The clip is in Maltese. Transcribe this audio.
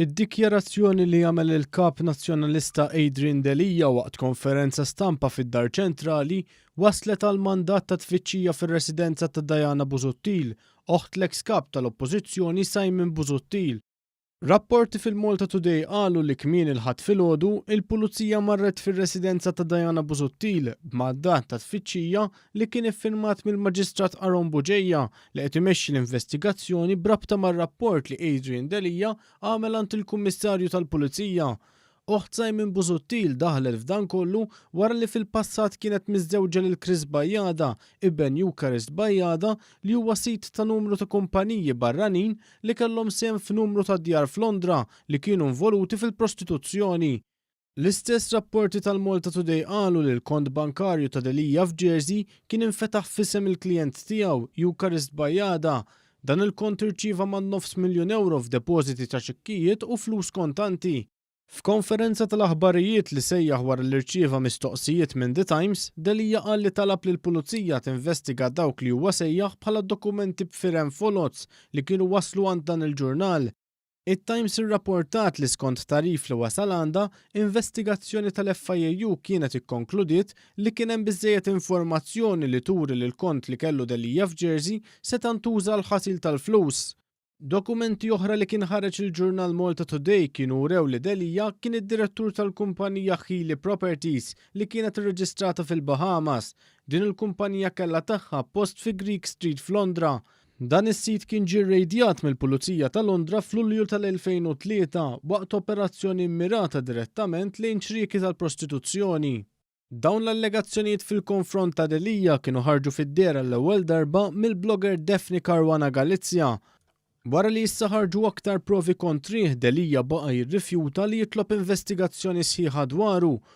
Id-dikjarazzjoni li għamel il-Kap Nazzjonalista Adrian Delia waqt konferenza stampa fid-Dar Ċentrali wasslet għal mandat ta' tfittxija fir-residenza ta' Diana Busuttil, oħt l-eks Kap tal-Oppożizzjoni Simon Busuttil. Rapporti fil-Malta Today qalu li kmieni l-Ħadd filgħodu, il-Pulizija marret fir-residenza ta' Diana Busuttil b'mandat ta' tfittxija li kien iffirmat mill-Maġistrat Aaron Bugeja li qed imexxi l-investigazzjoni b'rabta mar-rapport li Adrian Delia għamel għand il-Kummissarju tal-Pulizija Oħt Simon Busuttil daħlet f'dan kollu wara li fil-passat kienet miżżewġa lil Chris Bajada, iben Eucharist Bajada, li huwa sid ta' numru ta' kumpaniji barranin li kellhom sehem f'numru ta' djar f'Londra li kienu nvoluti fil-prostituzzjoni. L-istess rapporti tal-Malta Today qalu li l-kont bankarju ta' Delia f'Jersey kien infetaħ f'isem il-klijent tiegħu, Eucharist Bajada, Dan il-kont irċieva man-nofs miljun ewro f'depożiti ta' ċekkijiet u flus kontanti. F'konferenza tal-aħbarijiet li sejjaħ wara li rċieva mistoqsijiet minn The Times, Delia qal li talab lill-Pulizija tinvestiga dawk li huwa sejjaħ bħala dokumenti b'firem foloz li kienu waslu għand dan il-ġurnal. It-Times irrapportat li skont tagħrif li wasal għandha, investigazzjoni tal-FIAU kienet ikkonkludiet li kien hemm biżżejjed informazzjoni li turi li l-kont li kellu Delia f'Jersey seta' ntuża għall-ħasil tal-flus. Dokumenti oħra li kien ħareġ il-ġurnal Malta Today kienu wrew li Delia kien id-direttur tal-kumpanija Healy Properties li kienet irreġistrata fil-Bahamas. Din il-kumpanija kellha tagħha post fi Greek Street f'Londra. Dan is-sit kien ġie rrejdjat mill-Pulizija ta' Londra f'Lulju tal-2003 waqt operazzjoni mmirata direttament lejn ċrieki tal-prostituzzjoni. Dawn l-allegazzjonijiet fil-konfront ta' Delia kienu ħarġu fid-dehar għall-ewwel darba mill-blogger Daphne Caruana Galizia. Wara li issa ħarġu aktar provi kontrih, Delia baqa' jirrifjuta li jitlob investigazzjoni sħiħa dwaru